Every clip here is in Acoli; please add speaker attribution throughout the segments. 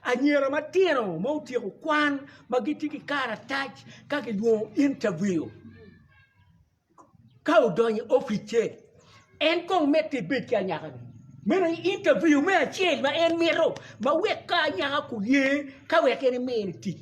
Speaker 1: Anyira matino ma otyeko kwan ma gitye ki karatac ka gilwongo intabiu. Ka odonyo i opic-ce, en kong mitte ibed ki anyaka-ni. Meno aye intabiu me acel ma en mito ma wek ka anyaka oye ka wek en emine tic.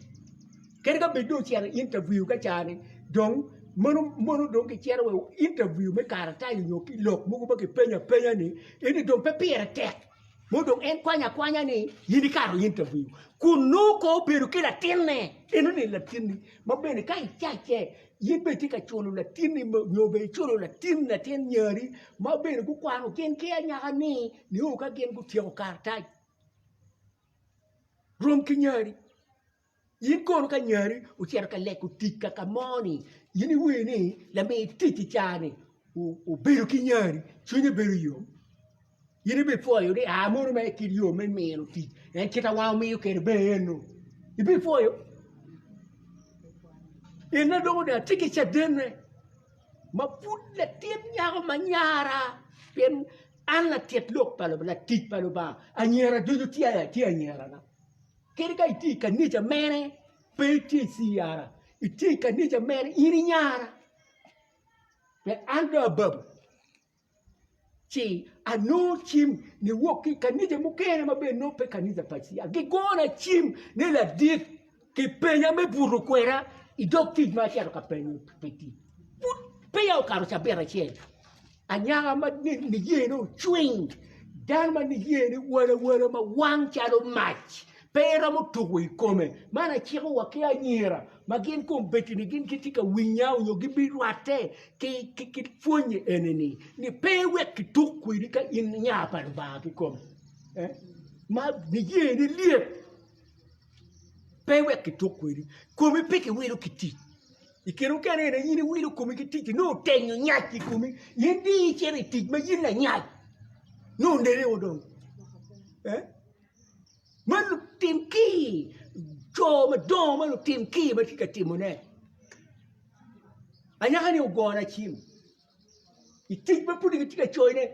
Speaker 1: Kadi ka bed dong ocito i intabiu ka caa-ni dong mono mono dong kicito wa i intabiu me karatac nyo ki lok mogo ma kipenyo apenya-ni, ento dong pe pire tek. Mono dong en kwanyo akwanya ni, In ikato in ta wiu, kun nongo kong obedo ki latinne. Enoni latinni ma bene ka icacce, in bene itye ka culo latinni nyo bene iculo latin latin nyari ma bene gukwano gin ki anyaka-ni nio ka gin gutyeko karatac rom ki nyari. In kono ka nyari ocito ka leko tic kaka moni in iwinyo ni lami tic i cani obedo ki nyari cwinye bedo yom in ibipwoyo ni aa mono mere kit yo me mino tic en kite ma omiyo kwede ber eno ibipwoyo ene dong onongo atye ki cadene ma pud latin nyako ma nyara pien an latit lok pa Lubanga latic pa Lubanga anyira ducu tye aya tye anyirana. Kadi ka itye i kanica mene, pe itye i ciara, itye i kanica mene, in inyara. Pien an dong ababo, ci anongo cim niwok ki i kanica mukene ma bene nongo pe kanica pa ciya, gigona cim ni ladit kipenya me buto kwena i dog tic ma acito ka penyo pi tic. Pud peya okato cabit acel. Anyaka ma niyene ocwiny, dano ma niyene walawala ma wang calo mac, pe eromo tuko i kome. Man aciko wa ki anyira ma gin kombeddi-ni gin gitye ka winya nyo gibirwatte ki pwonye eni-ni, ni pe wek kituk kwedi ka in nya pa Lubanga kikome. Ma niyene lyet, pe wek kituk kwedi, komi pe kiwilo ki tic. I kine mukene aye in iwilo komi ki tic-ci nongo otenyo nyac i komi in dong icito i tic ma in lanyac nongo oneneo dong ma lutim kir co madongo ma lutim kir ma tye ka timone anyaka-ni ogona cim i tic ma pud kitye ka coyone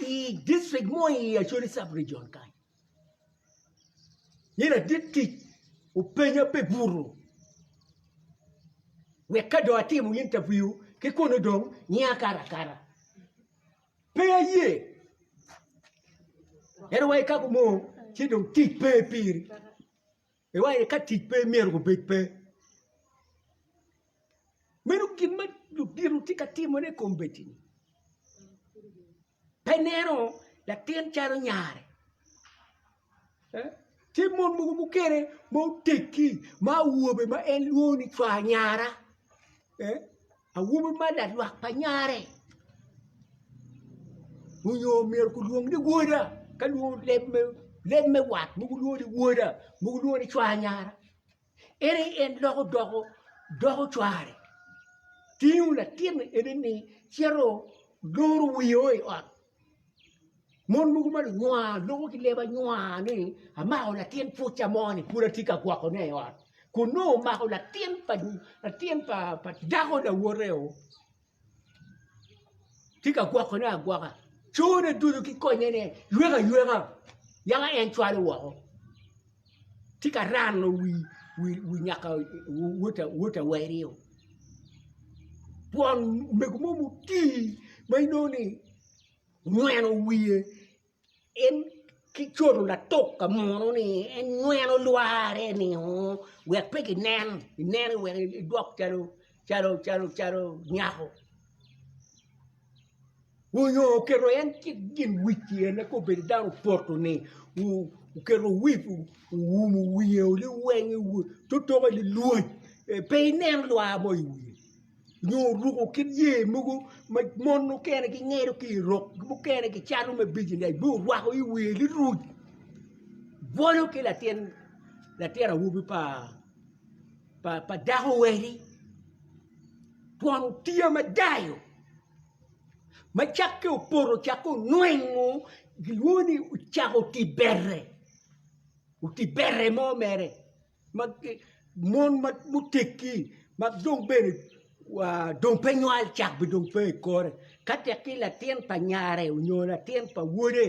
Speaker 1: i dicrik mo i Acholi cabregion kany. Ni ladit tic openya pi buto wek ka dong atimo intaviu ki kunu dong ngiya akato akata. Pe aye, ento wa ikako mo ci dong tic pe piri. Iwaco ni ka tic pe myero gubed pe. Meno gin ma ludito tye ka timone i kombeddi-ni. Pe ineno latin calo nyare, tye mon mogo mukene ma oteggi ma awobe ma en lwongo ni cwar nyara. Awobi ma lalwak pa nyare onyo myero kulwong ni woda ka lwongo leb me wat mogo lwongo ni woda mogo lwongo ni cwar nyara en aye en loko doko cware tingo latinni ene ni cito loro wiye o i ot Mon mogo ma lunywaa loko ki leb anywaa ni amako latin pwocca mo ni pud atye ka gwokone i ot kun nongo omako latin pa latin pa pa dako lawote o tye ka gwokone agwoka cone ducu ki konyene yweka yweka yaka en cwalo woko. tye ka rano wi nyaka wot awerio twon omego mo mutii ma inongo ni onyweno wiye en ki coto latuk ka muno ni en nyweno lware ni oo wek pe ginen ineno wek idwok calo nyako. onyo oketo en cik gin wic pyerine ka obedo dano poto ni oketo wip owumo wiye liwenge totoke lilwoc pe inen lwa mo i wiye nyo oruko kit yer mogo ma mon mukene gingedo ki i rok mukene gicalo me bijinec ma orwako i wiye liruc bwolo ki latin awobi pa dako wadi Twon otiya madayo ma cakke opoto cakke onwengo gilwongo ni ocako oti bere, oti bere mo mere ma mon ma muteggi ma dong bene dong pe nywal cak bene dong pe i kore ka tek ki latin pa nyare onyo latin pa wode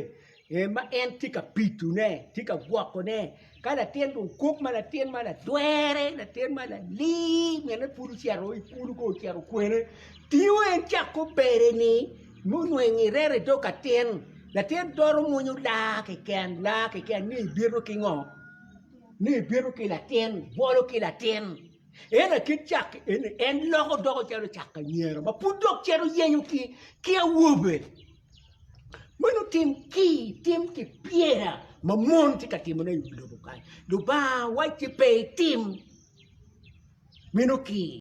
Speaker 1: ee ma en tye ka pitone, tye ka gwokone. Ka latin dong kok ma latin ma ladwere, latin ma lalir, mine pud ocito i kulu kong ocito kwene, tingo en cako bere-ni, munweng irere i dog atin, latin doro mwonyo laa keken, laa keken ni ibito ki ngo, ni ibito ki latin, bwolo ki latin. Ento akit cak eni en loko doko calo cak anyira ma pud dok cito yenyo ki awobe. Meno tim ki tim ki pyera ma mon tye ka timone i wi lobo kany. Lubanga wacci pe itim meno ki.